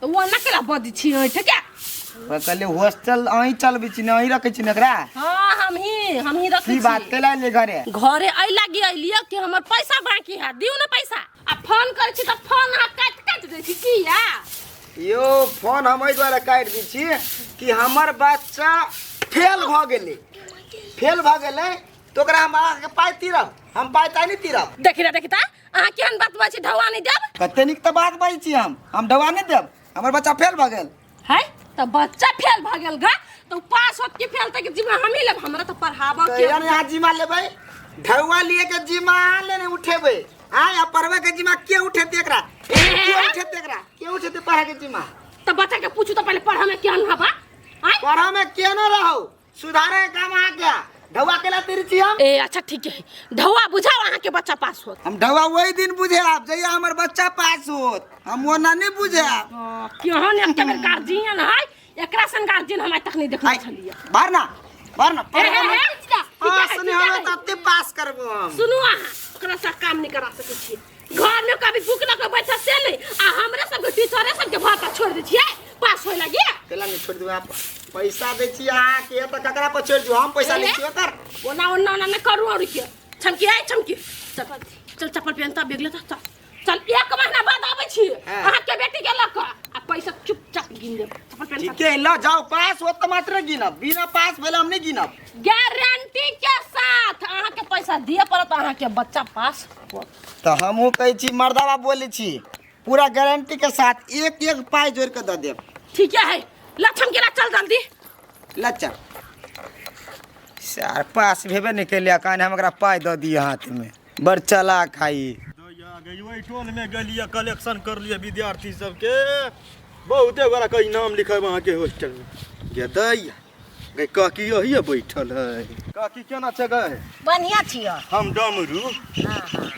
तो वो ना केला बदी छी ओइ ठके ओकरा कहले हॉस्टल अहीं चलबै छी ने अहीं रखै छी ने एकरा हां हम ही हम ही रखै की छी बात कैला ले घरे घरे अइ लागी अइलियो कि हमर पैसा बाकी है दिउ ना पैसा आ फोन करै छी त फोन अहाँ काट काट दै छी की या यो फोन हम एहि दुआरे काटि दै छी कि हमर बच्चा फेल भऽ गेलै फेल भऽ गेलै तऽ ओकरा हम अहाँके पाइ तीरब हम पाइ ताइ नहि तीरब देखि रे देखि ता अहाँ केहन बात बजै छी ढौआ नहि देब कते नीक तऽ बात बाजै छी हम हम ढौआ नहि देब हमर बच्चा फेल भऽ गेल है तऽ बच्चा फेल भऽ गेल गा तऽ पास होत की फेल तक जिम्मा हमही लेब हमरा तऽ पढ़ाबऽ के कहिया ने अहाँ जिम्मा लेबै ढौआ लिए के जिम्मा अहाँ ले ने उठेबै आय आ पढ़बै के जिम्मा के उठेतै एकरा के उठेतै एकरा के उठेतै पढ़ै के जिम्मा तऽ बच्चा के पूछू तऽ पहिले पढ़ऽ में केहन हबा आय पढ़ऽ में केहन रहौ सुधारे के काम अहाँ क्या ढौआ केला तेरी छी हम ए अच्छा ठीक है ढौआ बुझाओ अहाँ के बच्चा पास होत हम ढौआ वही दिन बुझे आप जहिया हमर बच्चा पास होत हम वो ना नहीं बुझे आप हाँ, केहन ने एकटा बेर गार्जियन है एकरा सन गार्जियन हम आइ तक नहीं देखने छलिए भर ना भर ना ए, ए, ए, ठीक है, हाँ ठीक है, सुने ठीक है। हमें तब ते पास करबो हम सुनू अहाँ ओकरा सा काम नहीं करा सकै छी घर में कभी भूख लगे बैठा से ले आ हमरा सब के टीचरे सब के भाता छोड़ दे छिए पास होय लगी केला नहीं छोड़ दू आप पैसा दे छी अहाँ के तो ककरा पर छोड़ दू हम पैसा ले छी ओकर ओना ओना ओना न करू और के छमकी है छमकी चल चल चप्पल पहन ता बैग ले ता चल चल एक महीना बाद आबै छी हाँ। अहाँ के बेटी के लक आ पैसा चुपचाप गिन देब चप्पल पहन ता ठीक है ल जाओ पास हो तो मात्र गिनब बिना पास भेल हम नहीं गिनब गारंटी के साथ अहाँ के पैसा दिए पड़त अहाँ के बच्चा पास हो। तो हमहू कहै छी मर्दावा बोलै छी पूरा गारंटी के साथ एक एक पाई जोड़ के दऽ देब ठीक है लक्षण के चल जल्दी लच्चा सार पास भेबे नहि केलियै कान हम एकरा पाइ दऽ दिअ हाथमे बड़ चलाक है ई ओहि टोल में गेलिए कलेक्शन कर लिए विद्यार्थी सबके बहुते गोरा कई नाम लिखब अहाँके हॉस्टल में गेदैया गै काकी यही बैठल है काकी केना छै गै बढ़िया छियो हम डमरू हाँ हाँ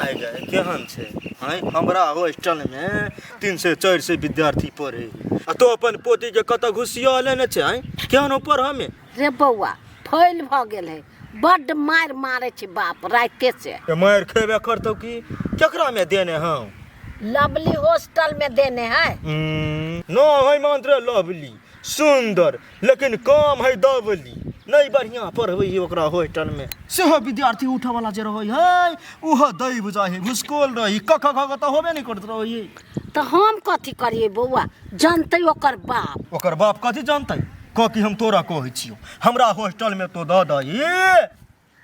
आइ गए केहन छै हैं हमरा हॉस्टल में तीन से चार से विद्यार्थी पढ़े आ तो अपन पोती के कत घुसिया लेने छै हैं केहन ऊपर हमें रे बौआ फैल भ गेल है बड मार मारे छी बाप राते से तो मार खेबे करतो की केकरा में देने हम लवली हॉस्टल में देने है हम्म, न है मंत्र लवली सुन्दर लेकिन काम है दबली नहीं बढ़िया पढ़बे है ओकरा होस्टलमे सेहो विद्यार्थी उठऽवला जे रहै है ओहो दैब जाइ है भुसकोल रही क ख ख तऽ होबे नहि करैत रहै है तऽ हम कथी करियै बौआ जानतै ओकर बाप ओकर बाप कथी जानतै कह कि हम तोरा कहै छियौ हमरा होस्टलमे तो दऽ दही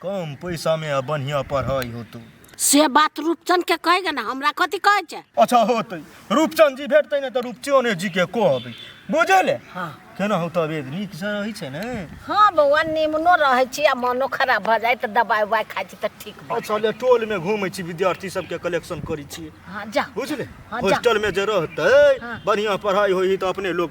कम पैसा में बढ़िया पढ़ाई होतो से बात रूपचंद के कहेगा ना हमरा कथी कहे छे अच्छा होते रूपचंद जी भेटते ने तो रूपचंद जी के कहबे बुझले हाँ केना हो तबियत नीक से रहै छै ने हाँ बौआ निमनो रहे छी आ मनो खराब भ जाए तो दवाई उवाई खाई छी तो ठीक भ अच्छा ले टोल में घूमै छी विद्यार्थी सबके कलेक्शन करै छी हाँ जा बुझले हाँ, जा। हॉस्टल में जे रहतै हाँ। बढ़िया पढ़ाई होई तो अपने लोग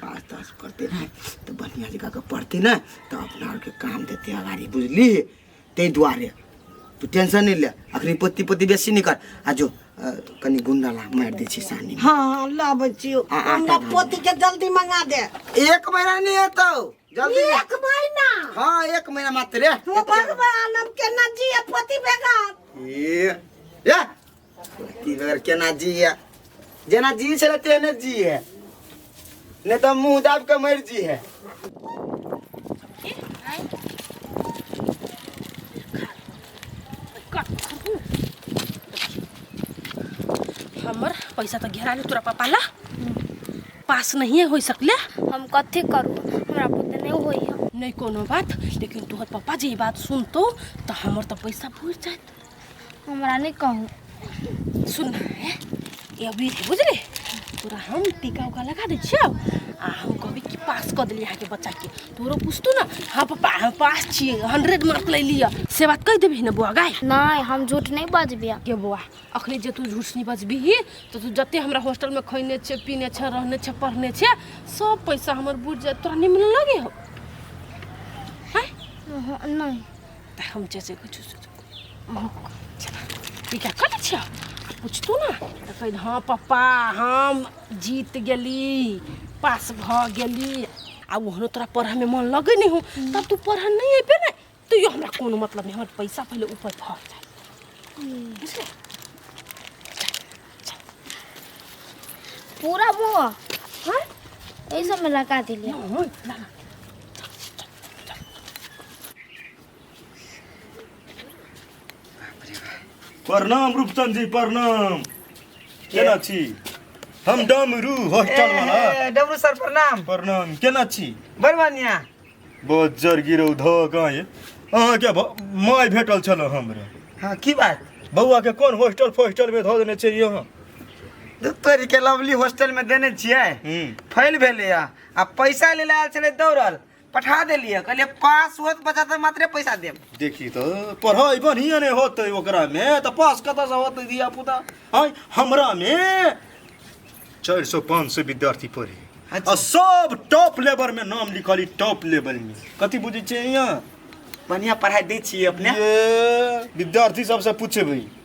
पाँच दस पढ़ते ने तऽ बढ़िआँ जकाँ के पढ़ते ने तऽ अपना आरके काम देते अगाड़ी बुझली ताहि दुआरे तू टेंशन नहि ले अखनी पत्ती पत्ती बेसी नहि कर आ जो अ, कनि गुंडा ला मारि दै छी सानी हाँ हाँ लाबै छियौ आ, आ, हमरा आ, आ। पोती के जल्दी मंगा दे एक महीना नहि हेतौ जल्दी ले। एक महीना हाँ एक महीना मात्र रे। हो भगवान हम केना जिए पोती बेगर ए, ए, की बेर केना जी है जेना जी छले तेने जी है नहीं तो मुंह दाब के मर जी है हमर पैसा तो घेरा ले तोरा पापा ला पास नहीं हो सकले हम कथी करू हमरा पुत नहीं होई है नहीं कोनो बात लेकिन तोहर पापा जी ई बात सुनतो तो हमर तो पैसा भूल जात हमरा नहीं कहू सुन ये अभी बुझले तोरा हम टीका उका लगा दे छियो आ हम कहबी कि पास कर देली आके बच्चा के तोरो पूछतो ना हाँ पापा हम पास छिए हंड्रेड मार्क ले लिया से बात कह देबी ना बुआ गाय नहीं हम झूठ नहीं बजबिया के बुआ अखनी जे तू झूठ नहीं बजबीही तो तू जते हमरा हॉस्टल में खैने छे पीने छे रहने छे पढ़ने छे सब पैसा हमर बुझ जाए तोरा नहीं मिलने लगे हो नहीं त हम जैसे कुछ ई क्या करै छियै आ पूछतू ना तऽ कहि हाँ पप्पा हम जीत गेली पास भऽ गेली आ ओहनो तोरा पढ़यमे मन लगै नहि हो तब तू पढ़ऽ नहि अयबे ने तैयो हमरा कोनो मतलब नहि हमर पैसा पहिले ऊपर भऽ जाय बुझलियै पूरा बौआ हाँ यही सब में लगा दिलिए हाँ, ला, ला। प्रणाम रूपचंद जी प्रणाम केना छी हम डमरू हॉस्टल वाला ए, डमरू सर प्रणाम प्रणाम केना छी बड़ बढ़िया बहुत जर गिरौ धऽ गाँय अहाँके भ- माय भेटल छल हमरा हाँ की बात बौआ के कोन हॉस्टल फोस्टल में धऽ देने छियै अहाँ दू तोरी के लवली हॉस्टल में देने छियै हूँ फैल भेलै आ आ पैसा ले आयल छलै दौड़ल पठा देलियै कहलियै पास होत बच्चा तऽ मात्रे पैसा देब देखी तो पढ़ाई बढ़िया नहीं होते ओकरा में तो पास कत से होते दिया पुता है हमरा में चार सौ पाँच सौ विद्यार्थी पढ़े अच्छा। और सब टॉप लेवल में नाम लिखली टॉप लेवल में कथी बुझे छे यहाँ बढ़िया पढ़ाई दै छियै अपने ये विद्यार्थी सबसे पूछे भाई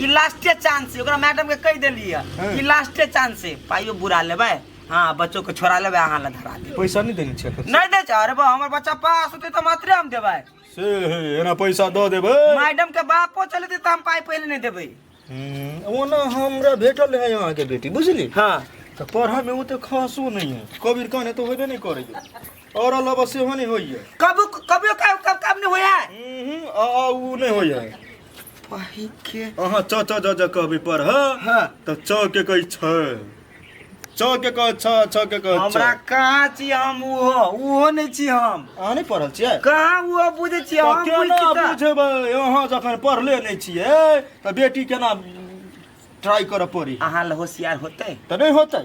ई लास्टे चांस है ओकरा मैडम के कह देली है हाँ। ई लास्टे चांस है पाइयो बुरा लेबे हाँ बच्चों के छोड़ा लेबे अहाँ ला धरा दे पैसा नहीं देने छे नहीं दे छे अरे बा हमर बच्चा पास होते तो मात्रे हम देबे से हे एना पैसा दो देबे मैडम के बापो चले दे तो हम पाई पहले नहीं देबे हम्म, ओना हमरा भेटल है यहाँ के बेटी बुझली हाँ तो पढ़ा में वो तो खासो नहीं है कबीर कहने तो होबे नहीं करे और अलावा से हो नहीं होई है कब कब कब कब कब नहीं होया हम्म आ आ उ नहीं होई है वही के अहाँ च च ज ज कहबे पर ह हाँ। त च के कही छ च के कह छ छ के कह हमरा छ कहाँ छी हम उहो उहो नहीं छी हम अहाँ नहीं पढ़ल छियै कहाँ उहो बुझे छी त हम केना बुझी त बुझबै अहाँ जखन पढ़ले नहीं छियै त बेटी केना ट्राई करऽ पड़ी अहाँ ले होशियार होते त नहीं होतै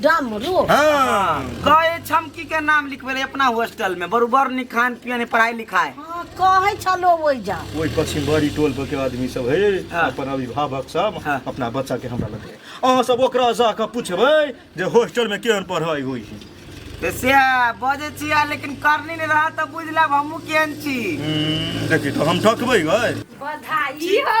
ड्राम में रो हाँ गए छमकी के नाम लिखबे रहे अपना हॉस्टल में बरोबर नी खान पियन पढ़ाई लिखाई हाँ, कहे छलो ओइ जा ओहि पश्चिम बड़ी टोल पर के आदमी सब है हाँ। अपन अभिभावक सब हाँ। अपना बच्चा के हमरा लगे अहाँ सब ओकरा जाके पूछबै जे हॉस्टल में केहन पढ़ाई होइ छै तो से बजे छिया लेकिन करनी नहीं रहा तो बुझ लेब हमू केहन छी हम्म, देखी तो हम ठकबै गए बधाई हो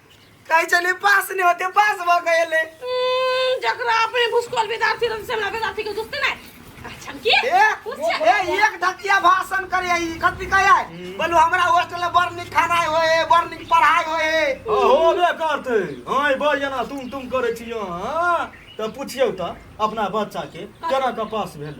कहै छलै पास नहि होते पास भऽ गेलै हम्म, जकरा अपने भुसकोल विद्यार्थी रहल से हमरा विद्यार्थी के दुखते नहि अच्छा की एक ए, एक धतिया भाषण करे है, ई कथी कहै है? बोलू हमरा हॉस्टल में बड़ नीक खाना होय है बड़ नीक पढ़ाई होय है होबे करते हाँ ई बड़ जेना तुम तुम करे छियो हाँ तऽ पुछियौ तऽ अपना बच्चा के केना कऽ पास भेल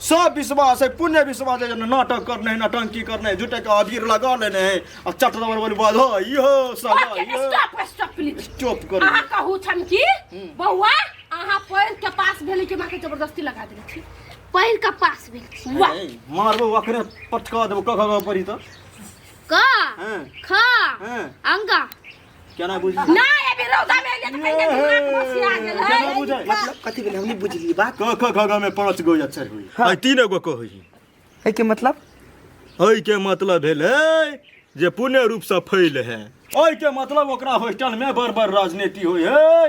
सब विश्वास है पुण्य विश्वास है जेना नाटक करने है नटंकी करने है झूठे का अबीर लगा लेने है आ चट दबर बोली बधाई हो सगाई ओके हो स्टॉप स्टॉप प्लीज स्टॉप कर अहाँ कहू छन कि बौआ अहाँ पैर के पास भेली के माँ के जबरदस्ती लगा देली छी पहिल का पास भेल छी वाह मारबो अखरे पटका देबो कख परी त क हैं ख हैं अंगा केना बुझली नहीं अभी रौदा में एलिए तो कहीं दिमाग बसिया गेल है केना बुझै मतलब कथी भेलै हम नहि बुझलियै बात क ख ग ग में पांच गो अक्षर होई है तीन गो को होई एहिके मतलब हई के मतलब भेलै जे पूर्ण रूप से फैल है ओई के मतलब ओकरा हॉस्टल में बड़ बड़ राजनीति होई है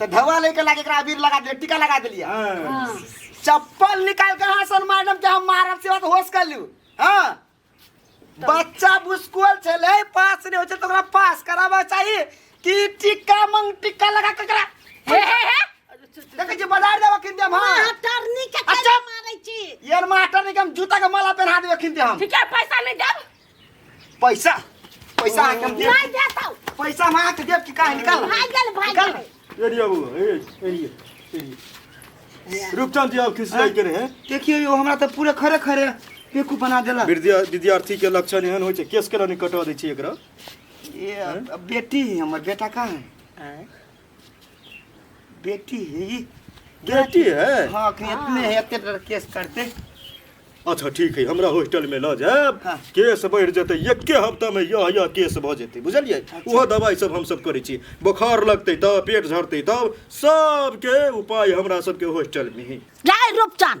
तो धवा लेके लाके एकरा अबीर लगा दिले टीका लगा दिलिया हाँ। चप्पल निकाल के हाँ सन मैडम के हम मारब से बात होश कर लियो हाँ बच्चा बुस्कुल छले पास नहीं होचे तो ओकरा पास कराबा चाहिए कि टीका मंग टीका लगा के एकरा हे हे हे देखे जे बाजार देवा किन देम हाँ मास्टरनी के अच्छा। कैसे मारै छी यार मास्टर ने के हम जूता के माला पहना देवे किन दे हम ठीक है पैसा नहीं देब पैसा पैसा आके हम देब नहीं देता हूँ। पैसा हम आके देब कि काहे निकाल भाग गेल भाग निकाल गेल एरिया बो एरिया एरिया रूपचंद जी अब किस लायक करे हैं देखियो यो हमरा त पूरा खरे खरे बेकू बना देला विद्या विद्यार्थी के लक्षण एहन होइ छै केस केला नहि कटवा दै छी एकरा ये अब बेटी है हमर बेटा का है बेटी है ये बेटी है हाँ अखनी इतने है इतने डर केस करते अच्छा ठीक है हमरा हॉस्टल में लऽ जायब हाँ। केस बढ़ि जेतै एके हफ्ता में यह यह केस भऽ जेतै बुझलियै अच्छा। ओहो दवाई सब हम सब करै छी बोखार लगतै तब पेट झड़तै तब सबके उपाय हमरा सबके हॉस्टल में है जाय रूपचन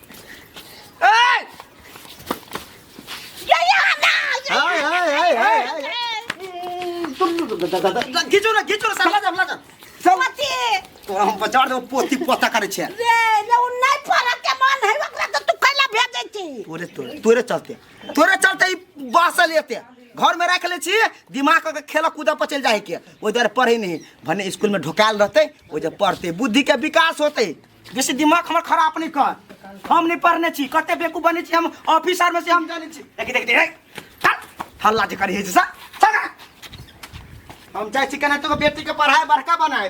घिचोरा घिचोरा सब लगा लगा सब पति तोरा हम बचाड़ दो पोती पोता करे छे रे ले उन नहीं पड़ा के मन है ओकरा तो तू कैला भेजे छी तोरे तोरे तोरे चलते तोरे चलते ई बासल एते घर में रख ले छी दिमाग के खेल कूद पर चल जाए के ओइ दर पढ़े नहीं भने स्कूल में ढोकाल रहते ओइ दर पढ़ते बुद्धि के विकास होते बेसी दिमाग हमर खराब नहीं कर हम नहीं पढ़ने छी कते बेकू बने छी हम ऑफिसर में से हम जाने छी देखी देखी देखी चल हल्ला जे करी है जैसा चल हम चाहे छी कने तो बेटी के पढ़ाए बड़का बनाए